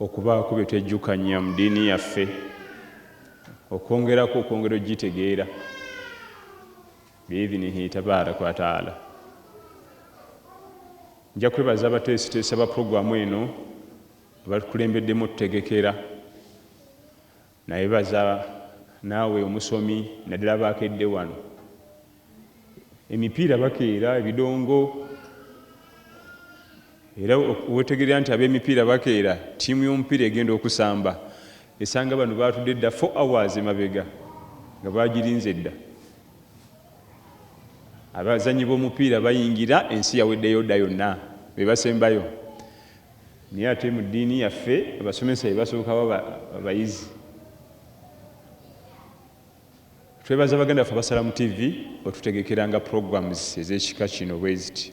Okubaako bye twejjukanya mu diini yaffe, okwongerako okwongera okugitegeera biidhinihi tabaaraka wa ta'ala. Nja kwebaza abateesiteesi aba pulogulaamu eno abatukulembeddemu otutegekera. Nayebaza naawe omusomi naddala abaakedde wano. Emipiira bakeera ebidongo era wetegerera nti ab'emipiira bakeera, ttiimu y'omupiira egenda okusamba esanga bano baatudde dda four hours emabega nga baagirinze dda. Abazannyi b'omupiira bayingira ensi yaweddeyo dda yonna be basembayo. Naye ate mu ddiini yaffe abasomesa be basooka baba abayizi. Twebaza baganda baffe abasala mu TV otutegekeranga programs ez'ekika kino bweziti.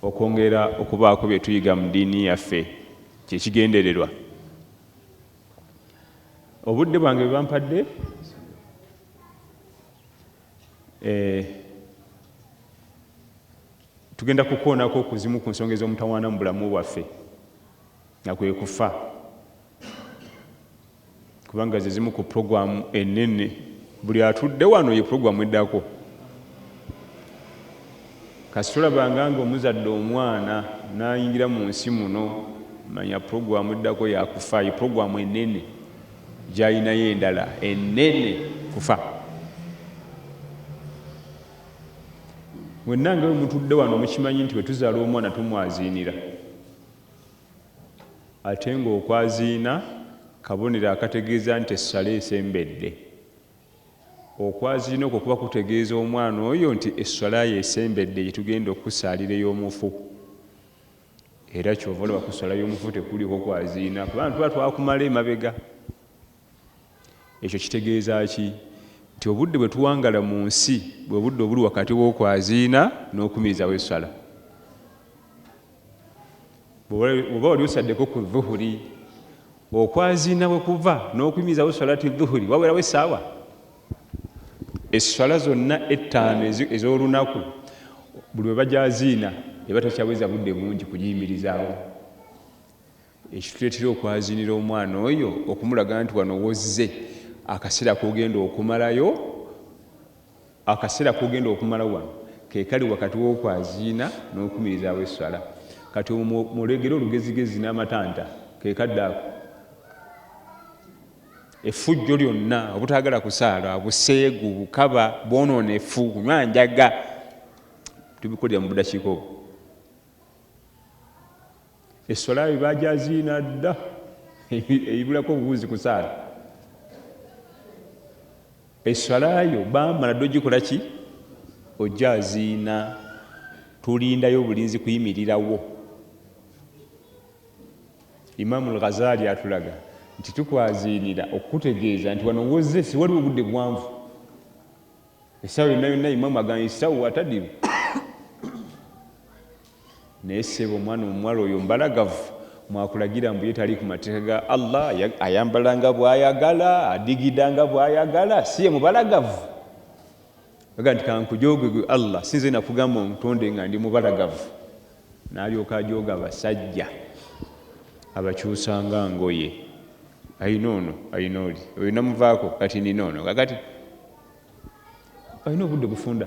Okwongera okubaako bye tuyiga mu ddiini yaffe kye kigendererwa. Obudde bwange bwe bampadde eh, Tugenda kukoonako ku zimu ku nsonga ez'omutawaana mu bulamu bwaffe, nga kwe kufa, kubanga ze zimu ku pulogulaamu ennene. Buli atudde wano ye pulogulaamu eddako. Kasi tolabanga nga omuzadde omwana n'ayingira mu nsi muno, manya pulogulaamu eddako ya kufa. Ye pulogulaamu ennene gy'alinayo endala ennene, kufa. mwenna nga wemutudde wano mukimanyi nti wetuzala omwana tumwaziinira ate nga okwaziina kabonero akategeeza nti essala esembedde okwaziina okwo kuba kutegeeza omwana oyo nti essalayo esembedde gyetugenda okusaalira ey'omufu era kyova olaba ku ssala y'omufu tekuliko kwaziina kubantu ba twakumala emabega Ekyo kitegeeza ki? Nti obudde bwe tuwangala mu nsi bwe budde obuli wakati w'okwaziina n'okumirizaawo esswala. Bw'oba wali osaddeko ku dhuhuri, okwaziina we kuva n'okumirizaawo swalati dhuhuri wawerawo essaawa. Esswala zonna ettaano ez'olunaku buli we bagyaziina eba takyaweza budde bungi kugiyimirizaawo. Ekituleetera okwaziinira omwana oyo okumulaga nti wano wozze, akaseera kogenda okumalayo, akaseera kogenda okumala wano kekali wakati wokwaziina nokumirizaawo esswala. Kati omwo mulegere olugezigezi namatanta kekadde ako. Effujjo lyonna, obutagala kusaala, buseegu, bukaba, bwononefu, kunywa njaga tubikolera mubudakiika obwo. Eswala yaabwe baagyaziina dda ebulako obuwunzi ku saala. Eswala yo baamala dda ogikola ki? Ogyaziina. Tulindayo obulinzi kuyimirirawo. Imaamu al-Ghazali atulaga nti tukwaziinira okukutegeeza nti wano wozze siwaliwo obudde buwanvu. Essaawa yonna yonna imaamu agamba essaawa atadiru. Naye ssebo omwana omuwala oyo mbalagavu mwakulagira mbu ye tali ku mateeka ga Allah ayambala nga bwayagala adigida nga bwayagala si ye mubalagavu aga nti kankujooge gwe Allah sinze nakugamba ontonde nga ndi mubalagavu nalyoka ajooga abasajja abakyusanga ngoye ayina ono ayina oli oyo namuvaako kati nina ono kakati ayina obudde bufunda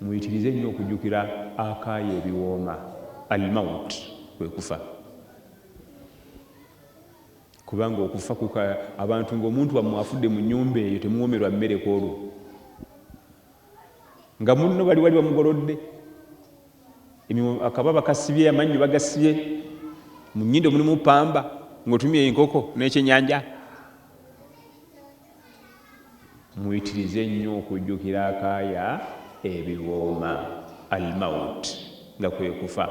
Muyitirize nnyo okujjukira akaayi ebiwooma, Al-Mawt, kwe kufa. Kubanga okufa kuka abantu ng'omuntu wammwe afudde mu nnyumba eyo temuwoomerwa mmere ku olwo. Nga munno bali wali bamugolodde, akababa kasibye, amannyo bagasibye, mu nnyindo mulimu pamba, ng'otumye enkoko n'ekyennyanja. Muyitirize nnyo okujjukira akaaya ebiwooma, Al-mawt, nga kwe kufa.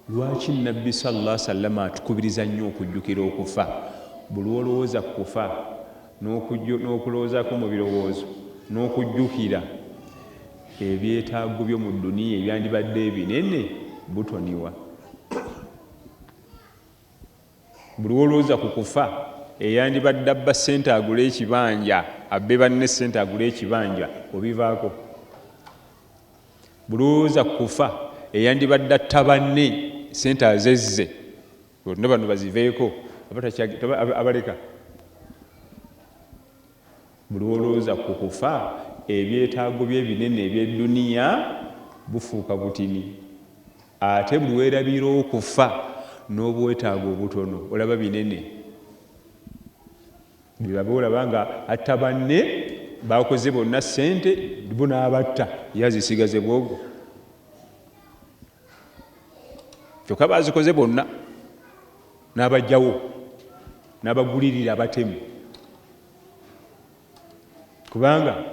Lwaki Nnabbi sallAllahu sallama atukubiriza nnyo okujjukira okufa? Buli lw'olowooza ku kufa n'okulowoozaako mu birowoozo n'okujjukira ebyetaago byo mu dduniya ebyandibadde ebinene, butoniwa. Mbu lwolwooza ku kufa eyandibadde abba ssente agule ekibanja abbe banne ssente agule ekibanja obivaako? Mbu lwolwooza ku kufa eyandibadde atta banne ssente azezze olwo bano baziveeko abaleka? Mbu lwolwooza ku kufa ebyetaago bye ebinene eby'edduniya bufuuka butini. Ate buli werabira okufa nobwetaaga obutono olaba binene byebabe olaba nga atta banne bakoze bonna sente bo nabatta ye azisigaze bwogo kyoka bazikoze bonna nabajjawo nabagulirira abatemu. kubanga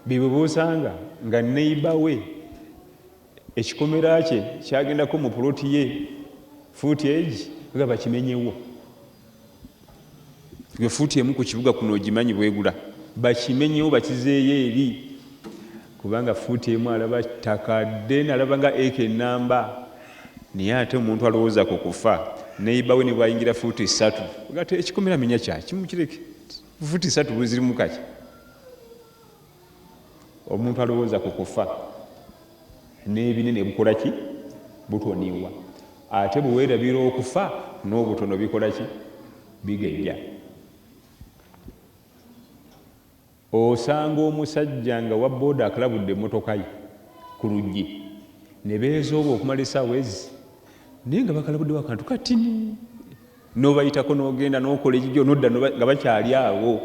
bibubusanga nga neiba we ekikomera kye kyagendako mu puloti ye fuuti egi nga bakimenyewo gwe fuuti emu ku kibuga kuno ogimanyi bwegula bakimenyewo bakizeeyo eri kubanga fuuti emu alaba ttaka den alaba nga eka enamba naye ate omuntu alowooza ku kufa neiba we ne bwayingira fuuti ssatu gate ekikomera menya kyakimu kireke Futi satu buzirimu kaki omuntu alowooza ku kufa n'ebinene bukola ki butoniwa ate bwewerabira okufa n'obutono bikola ki bigejja osanga omusajja nga wa booda akalabudde emmotoka ye ku luggi ne beezooba okumala esaawa ezi naye nga bakalabuddewo akantu katini nobayitako nogenda nokola ejijo nodda nga bakyali awo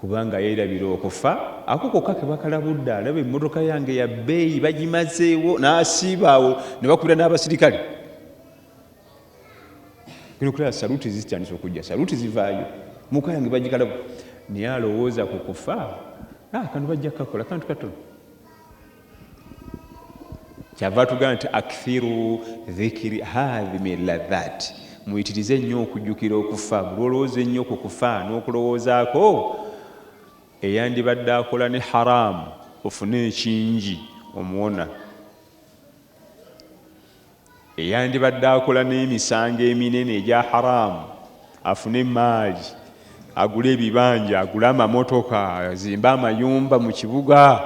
kubanga yerabira okufa ako koka kebakalabudde alaba emotoka yange yabeeyi bagimazeewo nasiiba awo nebakubira n'abasirikale kulaba saluti zitandisa okujja saluti zivaayo muka yange bagikalabu naye alowooza ku kufa ah, kano bajja kukakola kantu katono kyava tugamba nti akthiru dhikiri hadhimi ladhat muyitirize ennyo okujjukira okufa bulwolowooza ennyo ku kufa n'okulowoozaako eyandibadde akola ne haramu ofune ekingi omuwona eyandibadde akola n'emisango eminene egya haraamu afune emmaali, agule ebibanja, agule amamotoka, azimbe amayumba mu kibuga.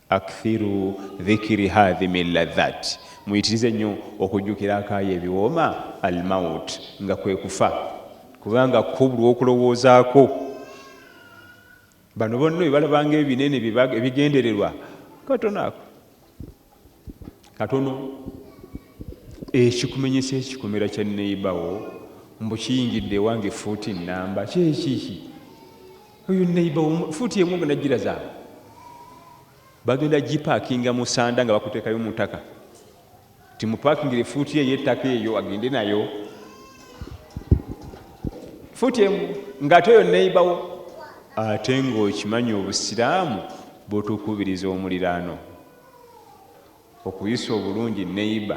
akthiru dhikiri hadhimi ladhat, muyitirize nnyo okujjukira akaayo ebiwooma almaut, nga kwe kufa, kubanga kubulwa okulowoozaako. Bano bonna ebalabanga ebinene ebigendererwa katono ako katono ekikumenyesa ekikomera kya neibawo mbu kiyingidde ewange fuuti namba kyekiki oyo neibawo fuuti emu nga najjira zaabwe bagenda gipakinga musanda nga bakutekayo mutaka Timupakingire fuuti ye yettaka eyo agende nayo fuuti emu ngate oyo neiba wo ate nga okimanyi obusiraamu butukubiriza omuliraano okuyisa obulungi neiba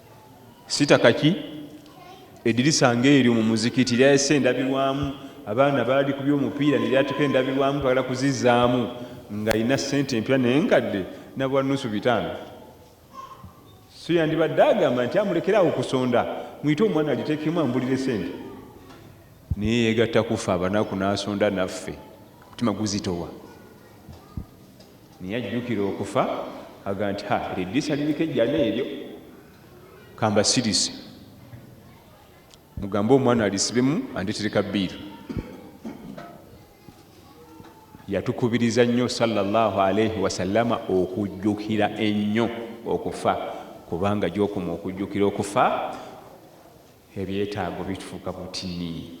sitaka ki edirisa ngaeryo mu muzikiti lyayese endabirwamu abaana baali ku byomupiira neryatuka endabirwamu twagala kuzizaamu ngaalina sente empya nenkadde nabwa nusu bitaano so yandibadde agamba nti amulekeraawo okusonda muyite omwana agitekemu ambulire sente naye yegatta kuffe abanaku nasonda naffe omutima guzitowa Naye ajjukira okufa aga nti ha eryo eddirisa liriko ejjana eryo kambasirize mugambe omwana alisibemu andetere ka biiru yatukubiriza nnyo salllahu alaihi wasallama okujjukira ennyo okufa kubanga gyokuma okujjukira okufa ebyetaago bitufuuka butini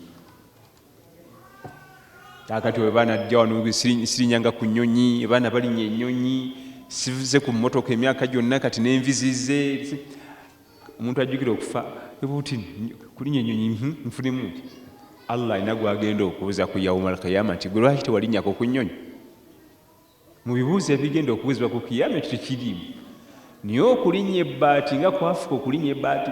kakati we baana ajja wano sirinyanga ku nyonyi abaana balinya enyonyi sivuze ku motoka emyaka gyonna kati nenvizize omuntu ajjukira okufa ebuti kulinya enyonyi hmm, nfunemu nti allah alina gwagenda okubuza ku yauma alkiyama nti gwe lwaki tewalinyako ku nyonyi mu bibuuzo ebigenda okubuzibwa ku kiyama ekyo tekirimu naye okulinya ebbaati nga kwafuka okulinya ebbaati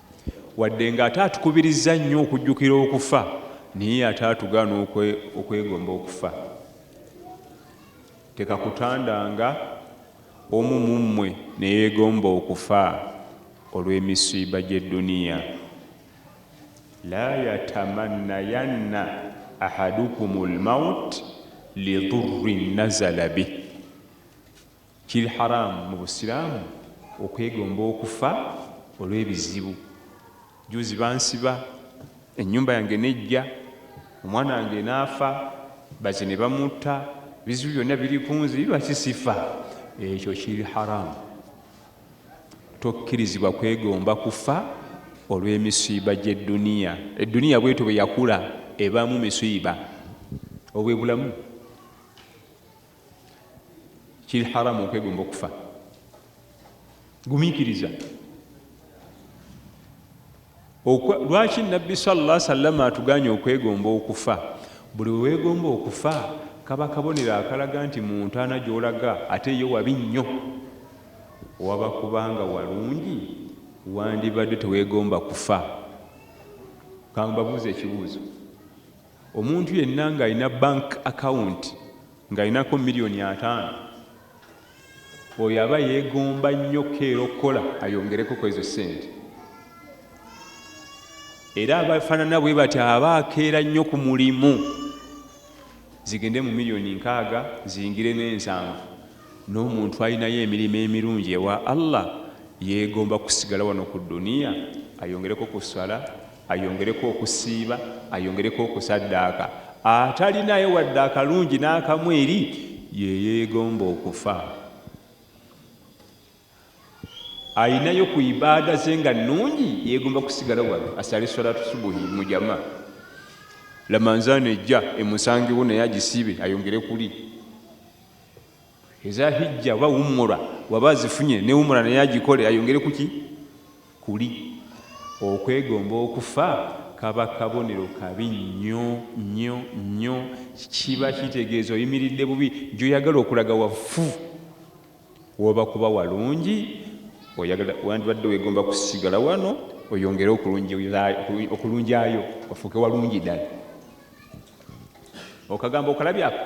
Wadde ng'ate atukubirizza nnyo okujjukira okufa, naye ate atugaana okwegomba okufa. Tekakutandanga omu mu mmwe ne yeegomba okufa olw'emisiiba gy'edduniya. La yatamannayanna ahadukumul mawuti lidurrin nazala bih. Kiri haraam mu busiraamu okwegomba okufa olw'ebizibu. Jjuuzi bansiba, ennyumba yange n'eggya, omwana wange n'afa, baze ne bamutta, ebizibu byonna biri ku nze, lwaki sifa? Ekyo kiri haraam. Tokkirizibwa kwegomba kufa olw'emisiiba gy'edduniya. Edduniya bw'etyo bwe yakula ebaamu misiiba. Obwo bwe bulamu. kiri haramu okwegomba okufa gumikiriza lwaki nabbi salla salama atuganye okwegomba okufa buli wewegomba okufa kaba kabonero akalaga nti muntaana gyolaga ate yo wabi nnyo waba kubanga walungi wandibadde tewegomba kufa kambabuuza ekibuuzo Omuntu yenna ng'alina bank account ng'alinako million ataano, oyo aba yegomba nnyo keera okukola ayongereko kwezo ssente. Era abafanana bwebatyo aba akeera nnyo ku mulimu. Zigende mu million nkaaga, ziyingire n'ensanvu. N'omuntu alinayo emirimu emirungi ewa Allah yegomba kusigala wano ku dunia ayongereko ku swala, ayongereko okusiiba, ayongereko okusaddaaka, atalinaayo wadde akalungi n'akamu eri Ye, yeegomba okufa. Alinayo ku ibaada ze nga nnungi, yeegomba kusigala wano asale swalaatu subuhi mu jama, Lamanzaane ejja emusangewo naye agisiibe ayongere kuli. Eza hijja oba wumura waba azifunye ne wumura naye agikole ayongere kuki kuli okwegomba okufa kaba kabonero kabi nnyo nnyo nnyo kiba kitegeeza oyimiridde bubi gyoyagala okulaga wafu woba kuba walungi oyagala wandibadde wegomba kusigala wano oyongere okulunjayo ofuuke walungi ddala okagambo okalabyaku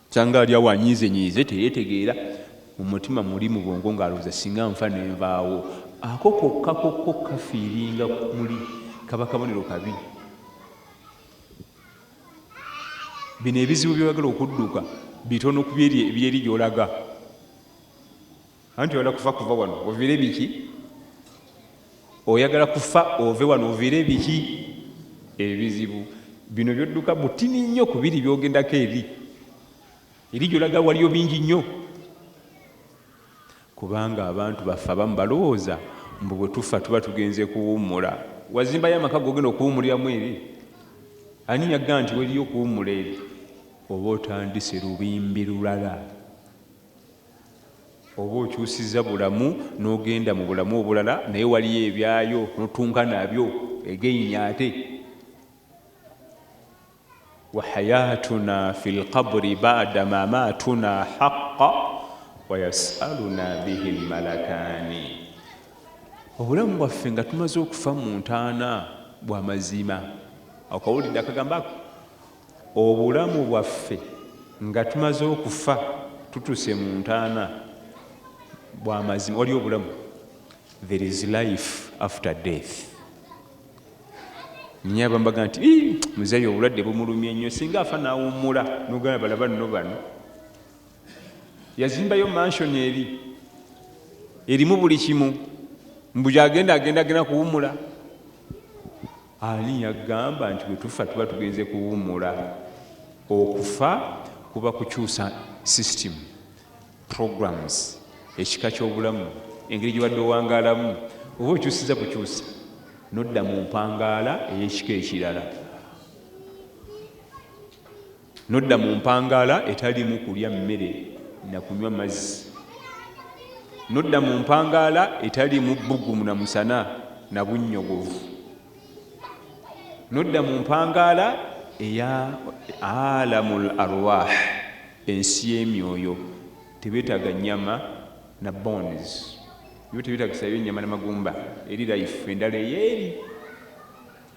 Kyanga ali awo anyiizenyiize teyetegeera, mu mutima muli mu bwongo ng'alowooza singa nfa ne nvaawo. Ako kokka kokko kafiiringa muli kaba kabonero kabi. Bino ebizibu by'oyagala okudduka bitono ku byeri ebyeri gy'olaga. anti oyagala kufa kuva wano ovire biki oyagala kufa ove wano ovire biki ebizibu bino byodduka butini nnyo ku biri byogendako eri eri gyolaga waliyo bingi nnyo kubanga abantu baffe abamu balowooza mbu bwe tufa tuba tugenze kuwummula wazimbayo amaka gogenda okuwummuliramu eri ani yagga nti weriyo okuwummula eri oba otandise lubimbi lulala Oba okyusiza bulamu nogenda mubulamu obulala naye waliyo ebyayo notunka nabyo again ate wahayatuna fi lqabri bada mamatuna haqa wayasaluna bihi lmalakani obulamu bwaffe nga tumaze okufa muntaana bwamazima akawulidde akagamba ako Obulamu bwaffe nga tumaze okufa tutuse mu ntaana bwa mazima waliyo obulamu there is life after death nye abambaga nti muzeyi obulwadde bumulumye nnyo singa afa nawummula nogana balaba nno bano yazimbayo mansion eri erimu buli kimu mbuja agenda agenda agenda kuwummula Ani yagamba nti bwetufa tuba tugenze kuwumula? Okufa kuba kukyusa system, programs, ekika ky'obulamu, engeri gyobadde owangaalamu oba okyusiza bukyusa nodda mu mpangaala ey'ekika ekirala. N'odda mu mpangaala etaliimu kulya mmere na kunywa mazzi. N'odda mu mpangaala etaliimu bbugumu na musana na bunnyogovu. N'odda mu mpangaala eya alamul arwah, ensi y'emyoyo. Tebeetaaga nnyama na bones. Yo tebeetagisayo nnyama na magumba. Eri life endala eyeeri.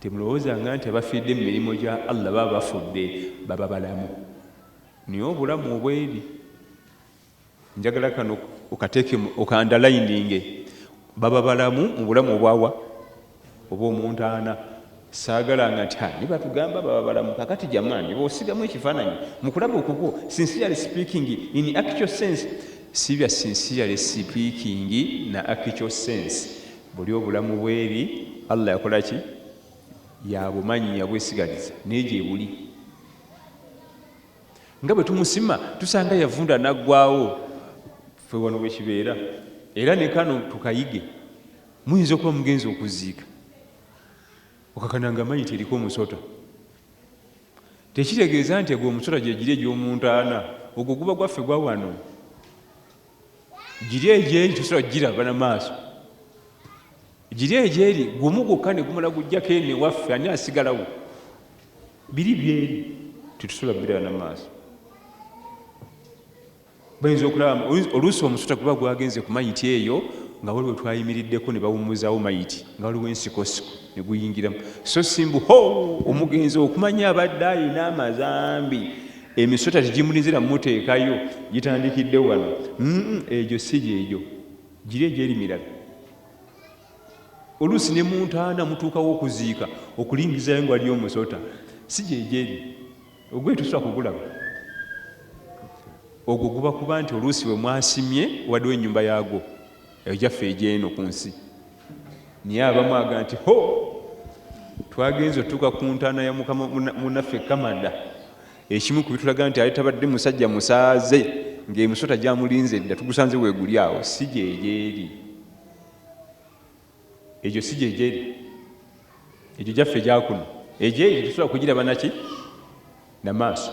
Temulowooza nga nti abafiridde mu mirimo gya Allah baba bafudde, baba balamu. Naye obulamu obw'eri, njagala kano okateeke mu, okandalayininge, baba balamu mu bulamu obwa wa? Obw'omu ntaana. Saagalanga nti, Ha, naye batugamba baba balamu. Kaakati jamaani, bw'osigamu ekifaananyi, mu kulaba okukwo, sincerely speaking, in actual sense, si bya sincerely speaking na actual sense, Buli obulamu bweri Allah yakola ki yabumanyi yabwesigaliza naye gyebuli nga bwe tumusima tusanga yavunda naggwawo fe wano bwekibeera era ne kano tukayige muyinza okuba mugenzi okuziika okakana nga mayi teriko omusota tekitegeeza nti egwo omusota gyegiri egyomuntaana ogwo guba gwaffe gwawano giri egyeri tosobola giraba na maaso giri egyeri gumu gwokka ne gumala gujjako eno ewaffe ani asigalawo biri byeri tetusobola biraba na maaso bayinza okulaba oluusi omusota guba gwagenze ku mayiti eyo nga waliwo twayimiriddeko ne bawummuzawo mayiti nga waliwo ensikosiko ne guyingiramu so simbu ho omugenzi okumanya abadde ayina amazambi emisota tegimulizira muteekayo gitandikidde wano egyo si gyegyo giri egyeri mirala oluusi ne muntaana mutuukawo okuziika okulingizayo nga waliyo omusota si gyegyeri ogwe tusobola kugulaba ogwo guba kuba nti oluusi we mwasimye waliwo enyumba yaagwo Eyo gyaffe egy'eno ku nsi. Naye abamu aga nti ho twagenze otuuka ku ntaana ya mukama munaffe Kamada, ekimu ku bitulaga nti ali tabadde musajja musaaze ng'emisota gyamulinze dda, tugusanze weeguli awo. Si gyegyeri egyo, si gyegyeri egyo, gyaffe gyakuno. Egyo egyo tetusobola kugiraba naki na maaso.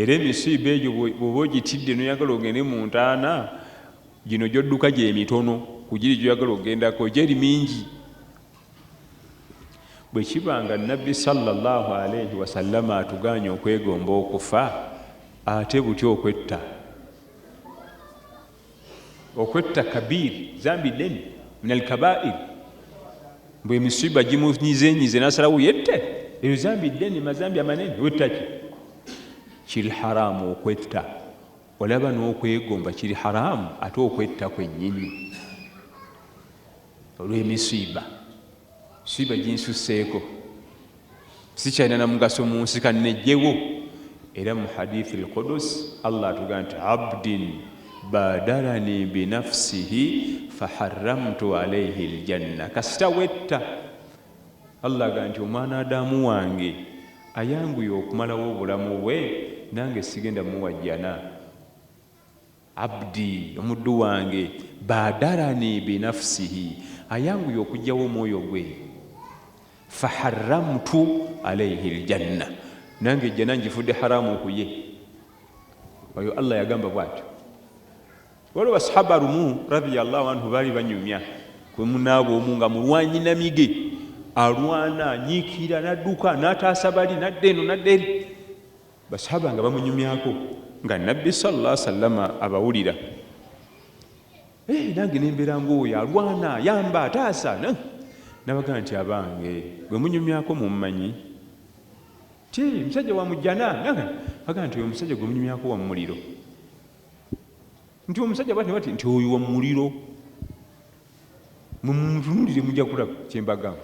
Era emisiiba egyo bw'oba ogitidde n'oyagala ogende mu ntaana, gino gy'odduka gye mitono ku giri gy'oyagala okugendako, egyeri mingi. Bwe kiba nga Nabbi sallallahu alaihi wasallama atugaanye okwegomba okufa, ate butya okwetta? Okwetta kabiir zambi ddene min alkabair mbu emisiba gimunyizenyize nasalawo yette eyo zambi ddene mazambi amanene wetta ki kiri haramu okwetta olaba n'okwegomba kiri haramu ate okwetta kwennyini olw'emisiiba Siba ginsusseeko, sikyalina na mugaso mu nsi, kannejjewo. Era mu hadithi al-Qudus Allah atugamba nti abdin badarani binafsihi faharramtu alaihi ljanna, kasita wetta Allah agamba nti omwana adamu wange ayanguye okumalawo obulamu bwe nange sigenda muwa jjana. Abdi, omuddu wange, baadarani binafsihi, ayanguye okujjawo omwoyo gwe, faharramtu alaihi ljanna, nange ejjana njifudde haramu kuye. Oyo Allah yagamba bwatyo. Waliwo basahaba lumu radiyallahu anhu baali banyumya kwemunaabwe omu nga mulwanyi namige alwana nyiikira nadduka nataasa bali nadda eno nadda eri Baswahaba nga bamunyumyako nga Nabbi salla sallama abawulira. Eeh nange ne mbeera ng'oyo alwana, yamba, taasa. N'abagamba nti, Abange! Gwe munyumyako mummanyi? Ti, musajja wa mu Jjana. N'abagamba nti, Oyo omusajja gwe munyumyako wa mu muliro. Nti, Omusajja bw'ati ne bw'ati, nti, Oyo wa mu muliro. Mumutunuulire mujja kulaba kye mbagamba.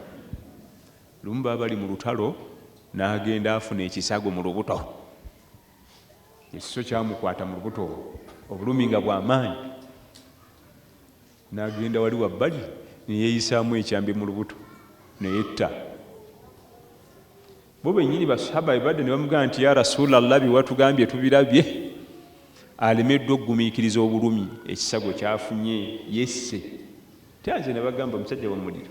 Lumu baba bali mu lutalo n'agenda afuna ekisago mu lubuto. Ekiso kyamukwata mu lubuto olwo, obulumi nga bwa maanyi. N'agenda wali wabbali ne yeeyisaamu ekyambe mu lubuto ne yetta. Bo bennyini Basswahaba be badda ne bamugamba nti, Yaa Rasulallah, bye watugambye tubirabye. Alemeddwa okugumiikiriza obulumi ekisago ky'afunye, yesse. Tya nze nabagamba musajja wa mu muliro.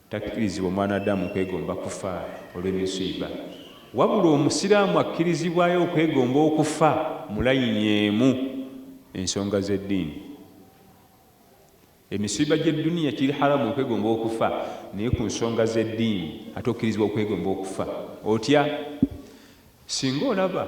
Takkirizibwa omwanadamu kwegomba kufa olw'emisiiba, wabula omusiraamu akkirizibwayo okwegomba okufa mu layini emu, ensonga z'eddiini. Emisiiba gy'edduniya kiri haramu okwegomba okufa, naye ku nsonga z'eddiini ate okkirizibwa okwegomba okufa. Otya singa olaba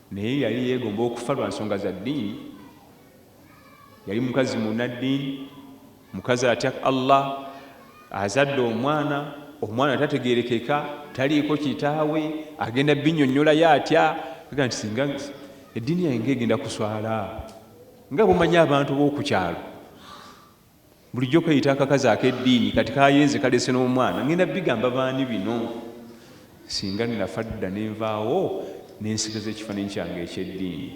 Naye yali yeegomba okufa lwa nsonga za ddiini. Yali mukazi munnaddiini, mukazi atya Allah. Azadde omwana, omwana tategeerekeka, taliiko kitaawe, agenda bbinnyonnyolayo atya? Agamba nti, Singa eddiini yange ng'egenda kuswala nga bw'omanyi abantu b'oku kyalo. Bulijjo keyita akakazi akeddiini kati kayenze kalese n'omwana ngenda bigamba baani bino? Singa nnafa dda ne nvaawo ne nsigaza ekifaananyi kyange eky'eddiini.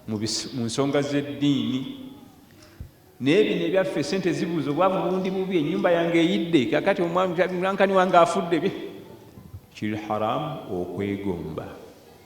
Mu nsonga z'eddiini naye bino ebyaffe esente zibuuza obwavu bundi bubi ennyumba yange eyidde kakati omwanankani wange afudde kiri haramu okwegomba.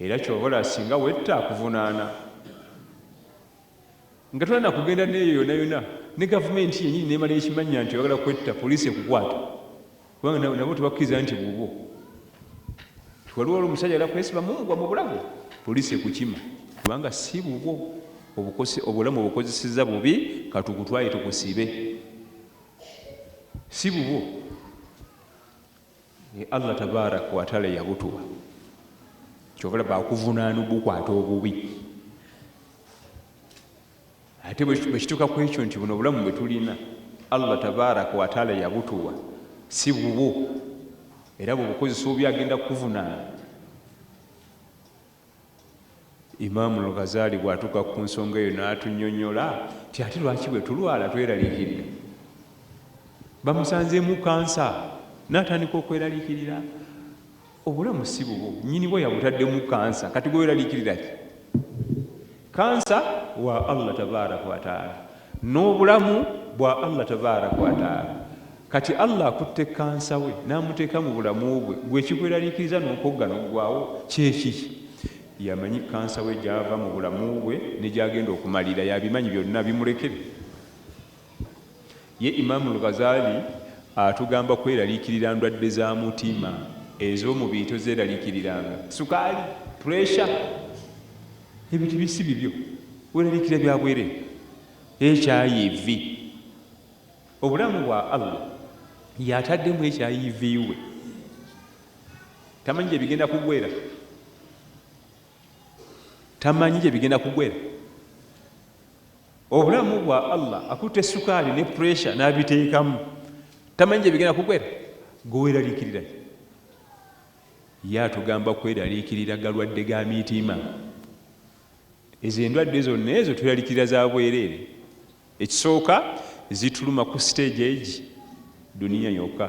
Era kyova olaba singa wetta akuvunaana nga tolina nakugenda neeyo yona yona ne gavumenti yenyini nemala ekimannya nti oyagala kwetta police ekukwata kubanga nabo tebakukiriza nti bubwo nti waliwo olwo omusajja agala kwesiba mumugwa mu bulago police ekukima kubanga si bubwo obukosi obulamu obukozeseza bubi katukutwaye tukusibe si bubwo Ye Allah tabarak watala yabutuwa kyovala bakuvunana obukwata obubi ate bwekituka kwekyo nti buno obulamu bwetulina Allah tabarak watala yabutuwa si bubwo era bwebukozesa obi agenda kukuvunana Imaam Al-Ghazali bw'atuuka ku nsonga eyo n'atunnyonnyola nti ate lwaki bwe tulwala tweraliikirira. Bamusanzeemu kkansa n'atandika okweraliikirira. Obulamu si bubwo, nnyinibwo yabutaddemu kkansa kati gwe weeraliikirira ki? Kkansa wa Allah tabaaraka wa taala n'obulamu bwa Allah tabaaraka wa taala. Kati Allah akutte kkansa we n'amuteeka mu bulamu bwe, ggwe ekikweraliikiriza n'okogga n'oggwaawo kye ki? Y'amanyi kkansa we gy'ava mu bulamu bwe ne gy'agenda okumalira. Y'abimanyi byonna. Bimulekere. Ye Imaam Al-Ghazali atugamba kweraliikirira ndwadde za mutima. Ez'omubiri tozeeraliikiriranga. Sukaali, pressure, ebyo tebi si bibyo. Weeraliikirira bya bwereere. HIV, obulamu bwa Allah y'ataddemu HIV we. Tamanyi gye bigenda kugwera. Tamanyi gye bigenda kugwera. Obulamu bwa Allah akutte sukaali ne pressure n'abiteekamu tamanyi gye bigenda kugwera gwe weeraliikirira ye atugamba kweraliikirira galwadde ga mitima ezo endwadde zonna ezo tweraliikirira za bwereere ekisooka zituluma ku siteegi egi duniya yokka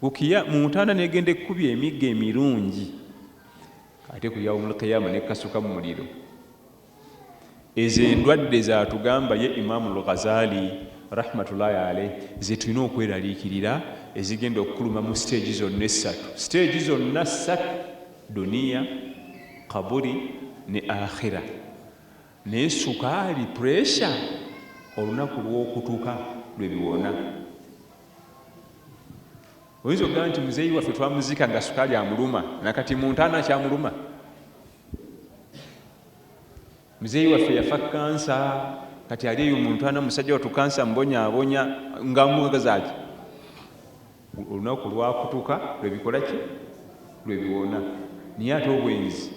Kukiya mu ntanda negenda ekkubye emiggo emirungi ate ku yaumul qiyama nekasuka mu muliro ezo endwadde zatugamba ye imamu lghazali rahmatullahi aleh zetulina okweraliikirira ezigenda okukuluma mu siteegi zonna essatu siteegi zonna ssatu duniya kaburi ne akhira naye sukaali puresha olunaku lwokutuka lwebiwona oyinza okugamba nti muzeeyi waffe twamuziika nga sukaali amuluma nakati muntaana akyamuluma muzeeyi waffe yafa kansa kati ali eyo muntaana musajja watu kansa mbonyabonya nga mugazaki olunaku lwakutuka lwebikolaki lwebiwona naye ate obwenzi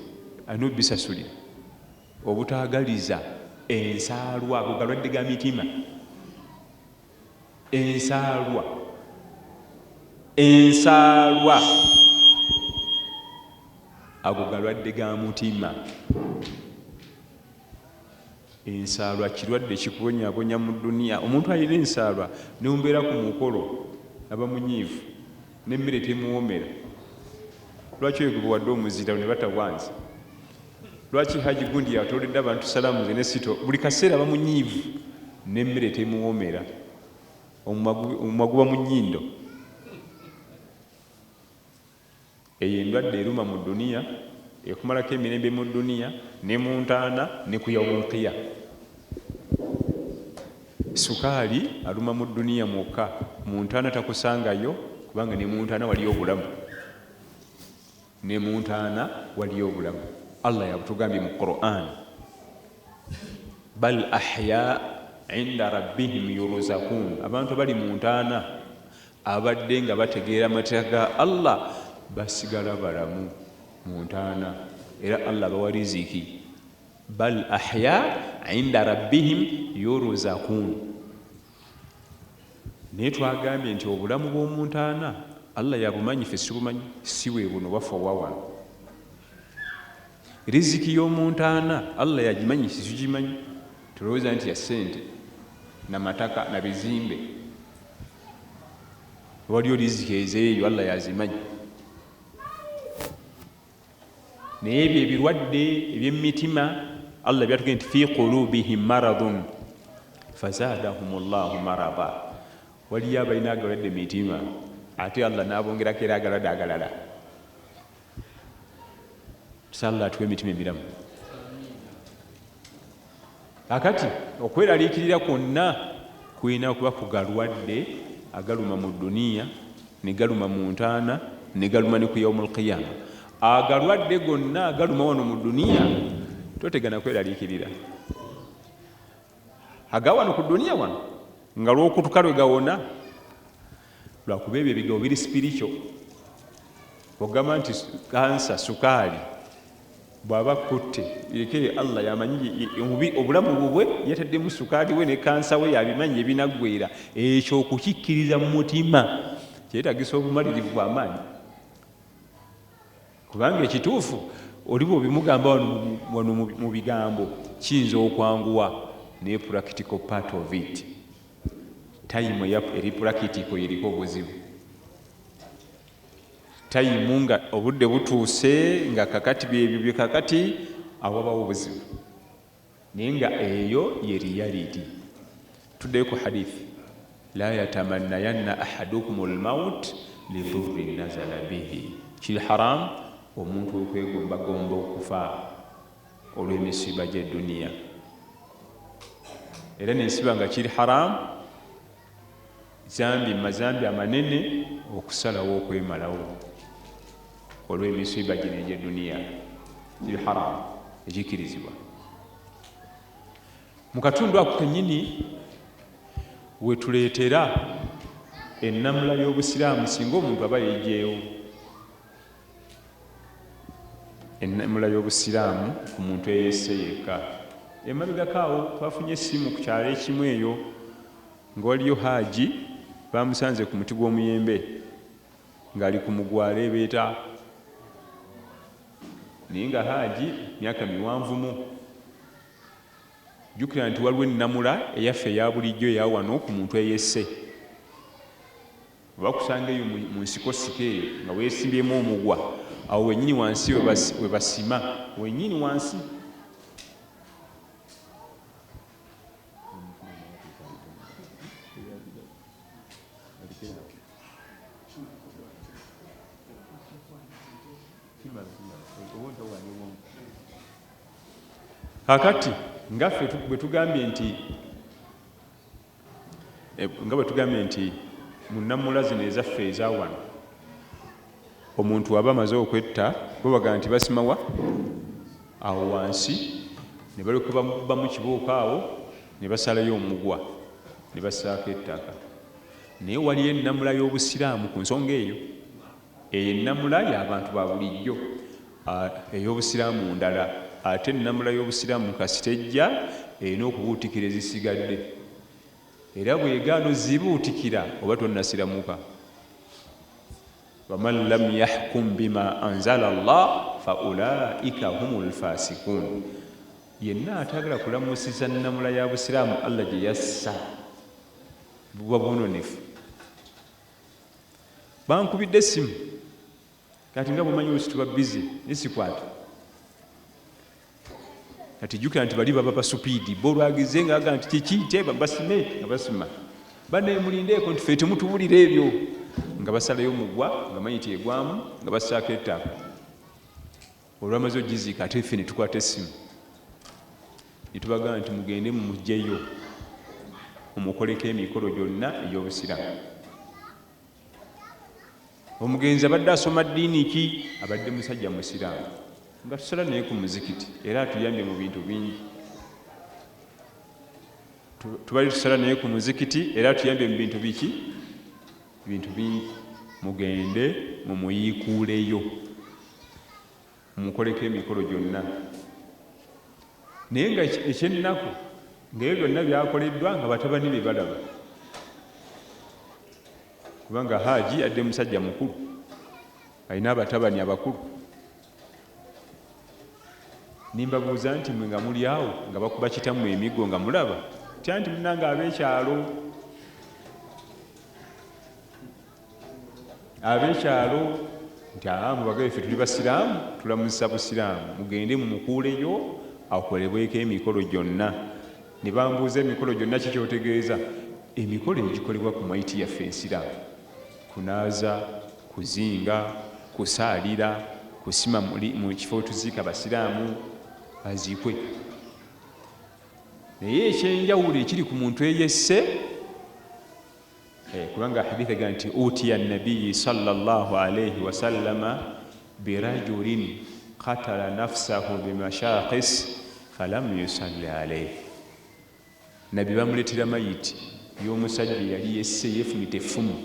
alina obisasulira obutagaliza ensaalwa bugalwadde ga mitima Ensaalwa Ensaalwa ago galwadde ga mutima. Ensaalwa kirwadde kikubonyabonya mu duniya. Omuntu alina ensaalwa nembeera ku mukolo aba munyiivu n'emmere temuwoomera. Lwaki oyo gwe bawadde omuzira ne batawanza? Lwaki Hajji Gundi yatooledde abantu salaamu ze ne sitoo? Buli kaseera aba munyiivu n'emmere temuwoomera, omumwa guba mu nnyindo. Eyo endwadde eruma mu dduniya, ekumalako emirembe mu dduniya ne mu ntaana ne ku yawumulqiya. Sukaali aluma mu dduniya mwokka, mu ntaana takusangayo kubanga ne mu ntaana waliyo obulamu. Ne mu ntaana waliyo obulamu. Allah yabutugambye mu Qur'an. Bal ahya inda rabbihim yuruzakuun. Abantu abali mu ntaana ababadde nga bategeera amateeka ga Allah basigala balamu mu ntaana era Allah abawa riziki. Bal ahya inda rabbihim yuruzakuun. naye twagambye nti obulamu bw'omuntu ana allah yabumanyi fe sibumanyi si webuno wafa wawano riziki y'omuntu ana allah yagimanyi sikigimanyi tulowooza nti ya ssente na mataka na bizimbe waliyo riziki ezeeyo allah yazimanyi Naye ebyo ebirwadde ebyemumitima Allah byatugee nti fi qulubihim maradun fazadahum llahu marada, waliyo abalina agalwadde mitima ate Allah nabongerako era agalwadde agalala. Tusa Allah atuwe emitima emiramu. Kaakati, okweraliikirira kwonna kulina kuba ku galwadde agaluma mu dduniya, ne galuma mu ntaana, ne galuma ne ku Yaumul Qiyaama. Agalwadde gonna agaluma wano mu dduniya, totegana kweraliikirira. Aga wano ku dduniya wano, nga lw'okutuka lwe gawona. lwakuba ebyo ebigambo biri sipirikyo ogamba nti kansa sukaali bwaba kutte ekeyo allah yamanyi obulamu bubwe yataddemu sukaali we ne kansa we yabimanyi ebinaggwera ekyo okukikkiriza mu mutima kyetagisa obumalirivu amaanyi kubanga ekituufu oliba obimugamba wano mu bigambo kiyinza okwanguwa naye practical part of it tayimu eri purakitiko yeriko obuzibu tayimu nga obudde butuuse nga kakati byebyo bye kakati awabawo obuzibu naye nga eyo ye riyaliti tuddeyo ku hadithi la yatamannayanna ahadukum lmaut lidurri nazala bihi kiri haramu omuntu okwegombagomba okufa olw'emisiiba gye duniya era nensiba nga kiri haramu zambi mazambi amanene okusalawo okwemalawo olw'emisiiba gino egye duniya kiri haramu ekikirizibwa mu katundu ako kenyini wetuleetera ennamula y'obusiraamu singa omuntu aba yejeewo ennamula y'Obusiraamu ku muntu eyeesse yekka. Emabegako awo twafunye essimu ku kyalo ekimu eyo nga waliyo Haji baamusanze ku muti gw'omuyembe ng'ali ku mugwa aleebeeta naye nga Haji myaka miwanvumu. Jjukira nti waliwo ennamula eyaffe eya bulijjo eya wano ku muntu eyeesse. Bwe bakusanga eyo mu nsikosiko eyo nga weesimbyemu omugwa, awo wennyini wansi we basima, wennyini wansi. kakati ngaffe bwe tugambye nti Nga bwe tugambye nti mu nnamuula zino ezaffe eza wano omuntu waba amaze okwetta bo bagamba nti basima wa awo wansi ne balyoka bamu kibooko awo ne basalayo omugwa ne basaako ettaka naye waliyo ennamula y'obusiraamu ku nsonga eyo eyo ennamula y'abantu ba bulijjo a ey'Obusiraamu ndala ate ennamula y'Obusiraamu kasita ejja erina okubuutikira ezisigadde era bw'egaana ozibuutikira oba tonnasiramuka. Waman lam yahkum bima anzala Allah fa ulaika humul fasikun, yenna ataagala kulamusiza nnamula ya Busiraamu Allah gye yassa buba bwononefu. Bankubidde essimu. kati nga bwomanyi olusi tuba bize naye sikwata kati jukira nti bali baba basupiidi bo olwagize nga aga nti kiki teeba basime nga basima banaye mulindeeko nti fe temutuwulira ebyo nga basalayo omugwa nga manyi tyegwamu nga basaako ettaka olwamaze ogiziika ate fe netukwata essimu netubagamba nti mugende mumugyeyo omukoleko emikolo gyonna egyobusiramu omugenzi abadde asoma ddiini ki abadde musajja musiraamu nga tusala naye ku muzikiti era atuyambye mu bintu bingi tubali tusala naye ku muzikiti era atuyambye mu bintu biki bintu bingi mugende mumuyiikuuleyo Munkoleko emikolo gyonna. Naye nga eky'ennaku, nga ebyo byonna byakoleddwa nga batabani be balaba, kubanga Haji adde musajja mukulu, alina abatabani abakulu. Nimbabuuza nti mwe nga muli awo nga bakuba kitammwe emiggo nga mulaba? Tya nti munnange ab'ekyalo abekyalo nti aa mubagabe ffe tuli basiraamu tulamuzisa busiraamu mugende mumukuuleyo akolebweko emikolo gyonna ne bambuuza emikolo gyonna kikyotegeeza emikolo egikolebwa ku maiti yaffe ensiraamu kunaaza kuzinga kusaalira kusima mu kifo tuziika basiraamu aziikwe naye ekyenjawulo ekiri ku muntu eyesse eh, kubanga hadith egamba nti utiya nabiyi salllah alaihi wasallama birajulin katala nafsahu bimashakis falam yusalli alaihi nabbi bamuletera mayiti yomusajja eyali yesse yefumita effumu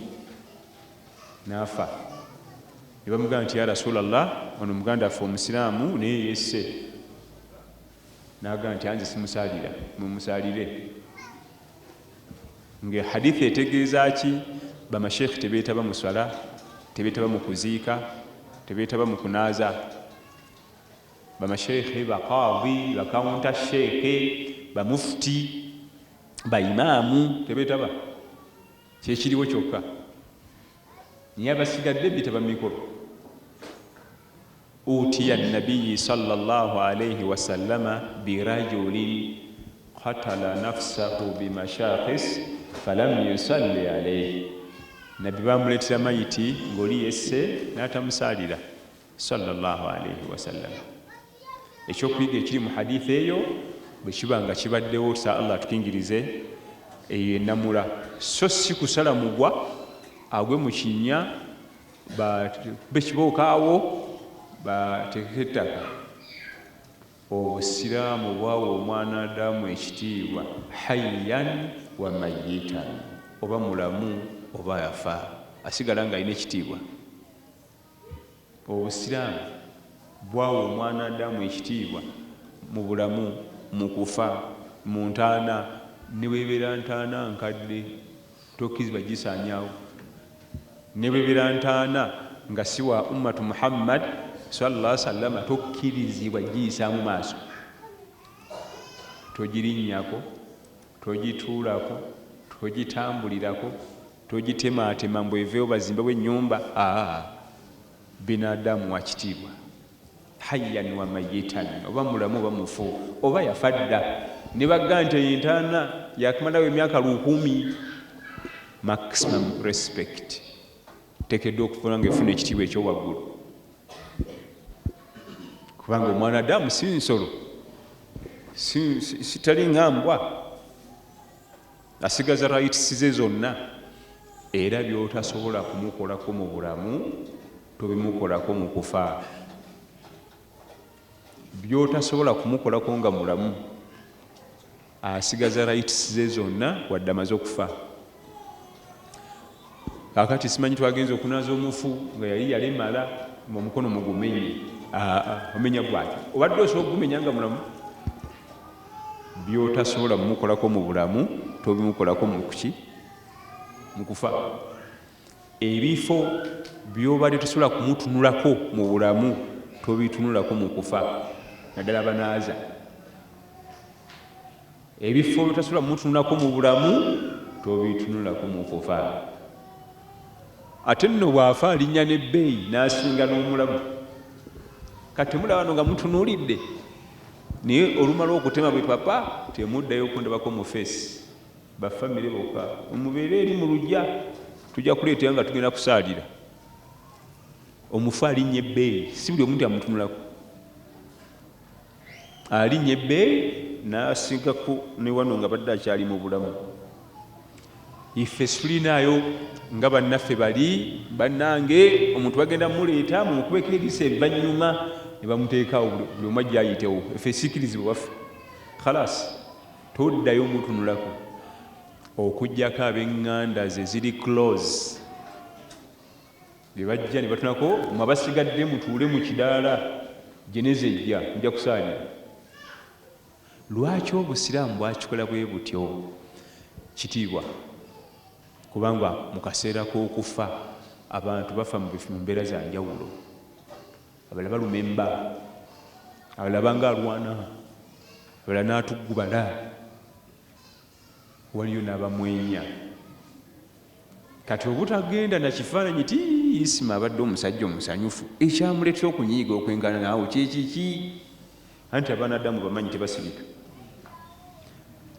nafa nebamugamba nti ya rasulllah ono muganda affe omusiraamu naye yesse nagamba nti anze simusalira mumusalire Nge hadith etegeeza ki? Bamasheikh tebetaba mu swala, tebetaba mu kuziika, tebetaba mu kunaaza. Bamasheikh, ba Qadhi, ba Counter Sheikh, ba Mufti, ba Imam tebetaba. Kyekiriwo kyokka. Naye abasigadde betaba mu mikolo. Utiya Nabiyyi swalla Llaahu alaihi wasallama birajulin qatala nafsahu bimashakhis falam yusalli alaihi, Nabbi baamuleetera mayiti ng'oli yesse n'atamusaalira swalla Llaahu alaihi wasallama. Eky'okuyiga ekiri mu hadiith eyo, bwe kiba nga kibaddewo sa Allah atukingirize, eyo ye nnamula, sso ssi kusala mugwa agwe mu kinnya bakube kibooka awo bateekeko ettaka obusiraamu bwawa omwana adamu ekitiibwa hayyan wa mayitan oba mulamu oba yafa asigala nga alina ekitiibwa obusiraamu bwawa omwana adamu ekitiibwa mu bulamu mu kufa mu ntaana ne bwebeera ntaana nkadde Tokkirizibwa kugisaanyaawo ne bwe beera ntaana nga si wa Ummatu Muhammad, swalla Llaahu wasallama, tokkirizibwa kugiyisaamu maaso. Togirinnyako, togituulako, togitambulirako, togitemaatema mbu eveewo bazimbewo ennyumba, haa, binadamu wa kitiibwa. Hayyan wa mayitan, oba mulamu oba mufu, oba yafa dda, ne bagga nti eyo entaana yakumalawo emyaka lukumi, maximum respect tekeddwa okufuula nga efuna ekitiibwa ekyowaggulu kubanga omwana adamu si nsolo sitali nga mbwa asigaza rights ze zonna era byotasobola kumukolako mu bulamu Tobimukolako mu kufa. By'otasobola kumukolako nga mulamu, asigaza rights ze zonna wadde amaze okufa. Kaakati simanyi twagenze okunaaza omufu nga yali yalemala mu omukono mugumenye. Aa, omenya gwaki? Obadde osobola okugumenya nga mulamu? By'otasobola kumukolako mu bulamu, tobimukolako mu kuki? Mu kufa. Ebifo byobadde tosobola kumutunulako mu bulamu tobitunulako mu kufa naddala banaaza. Ebifo byotasobola kumutunulako mu bulamu tobitunulako mu kufa. Ate nno bw'afa alinnya n'ebbeeyi n'asinga n'omulamu. Kati temulaba no nga mutunulidde naye olumala okutema bwe papa temuddayo okundabako mu feesi. Ba family boka mubeere eri mu lugya tujja kuleeta nga tugenda kusaalira omufu alinnya ebbeeyi si buli omu nti amutunulako alinnya ebbeeyi n'asigako ne wano nga badde akyali mu bulamu ife situlinaayo nga bannaffe bali bannange omuntu bagenda muleeta mumukubeko erisa evanyuma ne bamuteekaawo buli omu ajja ayitewo efe sikirizibwa waffe khalasi Toddayo mutunulako okujjako abenganda ze ziri close bebajja nebatunako mwe abasigadde mutuule mu kidaala jeneza ejja muja kusaanya lwaki obusiraamu bwakikola bwe butyo kitiibwa kubanga mu kaseera k'okufa abantu bafa mu mbeera za njawulo Abalala balumemba, abalala abanga alwana, abalala n'atuggubala, waliyo n'abamwenya. Kati obutagenda na kifaananyi ti Isma abadde omusajja omusanyufu, ekyamuleetera okunyiiga okwenkana naawe kye kiki? Anti abaana Adamu bamanyi tebasirika.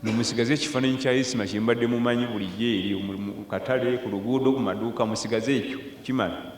Nomusigaze ekifaananyi kya Isma kye mbadde mumanyi bulijjo eri mu katale, ku luguudo, ku maduuka, musigaze ekyo kimala.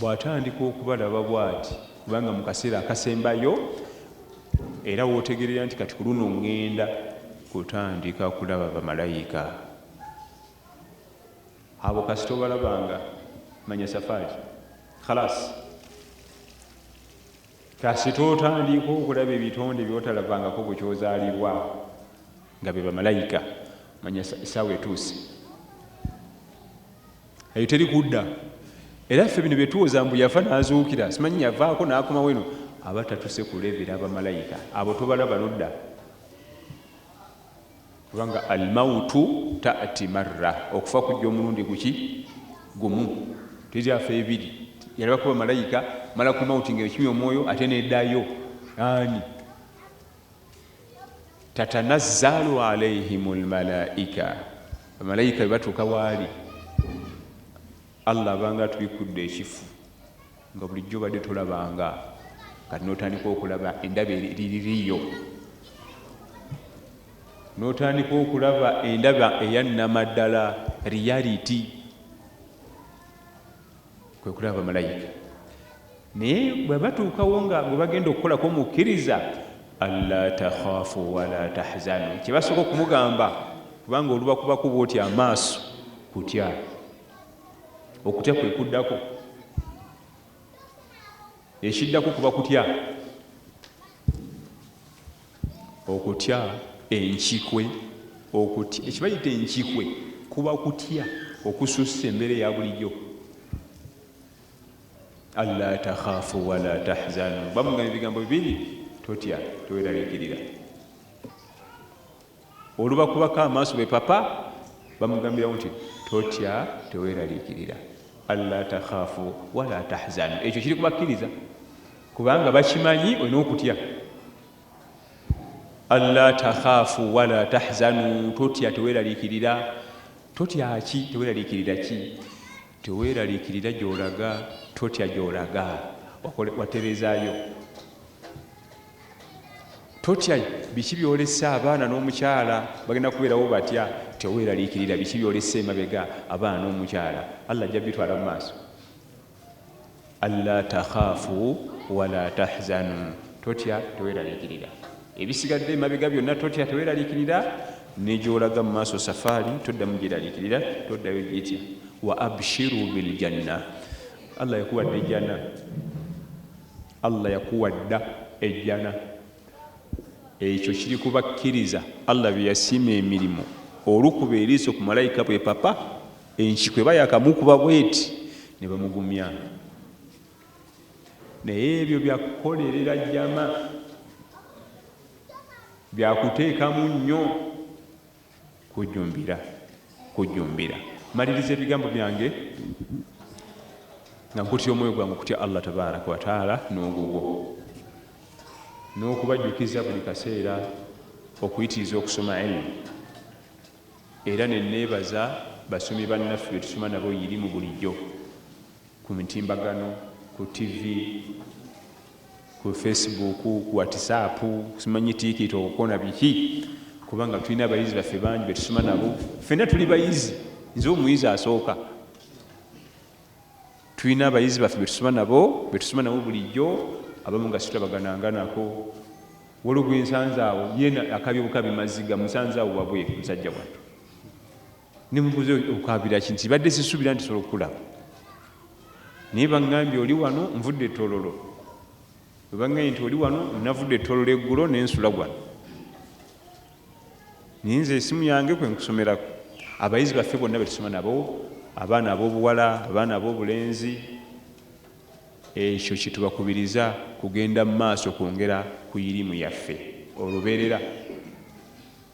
Bw'atandika okubalaba bw'ati, kubanga mu kaseera akasembayo era w'otegeerera nti kati ku luno ŋŋenda kutandika kulaba bamalayika. Abo kasita obalabanga manya safaari khalaasi. Kasita otandiika okulaba ebitonde by'otalabangako bukya ozaalibwa nga be bamalayika, manya essaawa etuuse. eyo teri kudda era ffe bino byetuwoza mbu yafa nazuukira simanyi yavaako nakomawo eno aba tatuse kulevera abamalayika abo tobalaba nodda kubanga almautu tati marra okufa kujja omulundi guki gumu tezyafa ebiri yalabakuba malayika mala kumauti nga ekimya omwoyo ate nedayo ani tatanazzalu alaihim lmalaika bamalaika bebatuuka waali allah abanga atubikudde ekifu nga bulijjo obadde tolabanga kati notandika okulaba endaba eriririyo notandika okulaba endaba eyannamaddala reality kwe kulaba bamalayika naye bwe batuukawo nga gwe bagenda okukolako mukkiriza alla takhafu wala tahzanu kyebasooka okumugamba kubanga olubakubaku bwoti amaaso kutya okutya kwe kuddako ekiddako kuba kutya Okutya enkikwe, Okutya ekibayita enkikwe kuba kutya okususse embeera eya bulijjo. Alla takhaafu wala tahzanu, bamugamba ebigambo bibiri, totya teweraliikirira. olubakubako amaaso be papa bamugambirawo nti totya teweraliikirira alla takhafu wala tahzanu ekyo kiri kubakkiriza kubanga bakimanyi olina okutya alla takhafu wala tahzanu totya teweraliikirira totya ki teweraliikirira ki teweraliikirira gyolaga totya gyolaga waterezayo Totya biki byolese abaana n'omukyala bagenda kubeerawo batya teweeraliikirira biki byolese emabega abaana n'omukyala Allah ajja bitwala mu maaso alla takhaafu wala tahzanu totya teweeraliikirira ebisigadde emabega byonna totya teweeraliikirira negyolaga mu maaso safaari toddamu gyeraliikirira toddayo gyetya wa abshiru biljanna Allah yakuwadde ejjana Allah yakuwa dda ejjana. Ekyo kiri ku bakkiriza Allah be yasiima emirimu. Olukuba eriiso ku Malaika bwe papa, enkiku eba yakamukuba bweti ne bamugumya. Naye ebyo bya kukolerera jama, bya kuteekamu nnyo. Kujjumbira, kujjumbira. Maliriza ebigambo byange nga nkutya omwoyo gwange okutya Allah tabaraka wataala n'ogugwo n'okubajjukiza buli kaseera okuyitiriza okusoma ilmu era neneebaza basomi bannaffe betusoma nabo yirimu bulijjo ku mitimbagano, ku ttivi, ku fesibuuku, ku watisaapu, simanyi tiikito okona biki kubanga tulina abayizi baffe bangi be tusoma nabo. Ffenna tuli bayizi, nze omuyizi asooka. Tulina abayizi baffe be tusoma nabo, be tusoma nabo bulijjo, abamu nga situlabagananga nako. Waliwo gwe nsanze awo, yeena akabye bukabi maziga, musanze awo wabweru musajja wattu. nemubuza okaabira ki nti badde sisubira nti sobola okukulaba naye baŋambye oli wano nvudde etololo webaŋambye nti oli wano navudde etololo eggulo nensula wano naye nze esimu yange kwenkusomerako abayizi baffe bonna betusoma nabo abaana abobuwala abaana abobulenzi ekyo kyetubakubiriza kugenda mu maaso kwongera ku irimu yaffe oluberera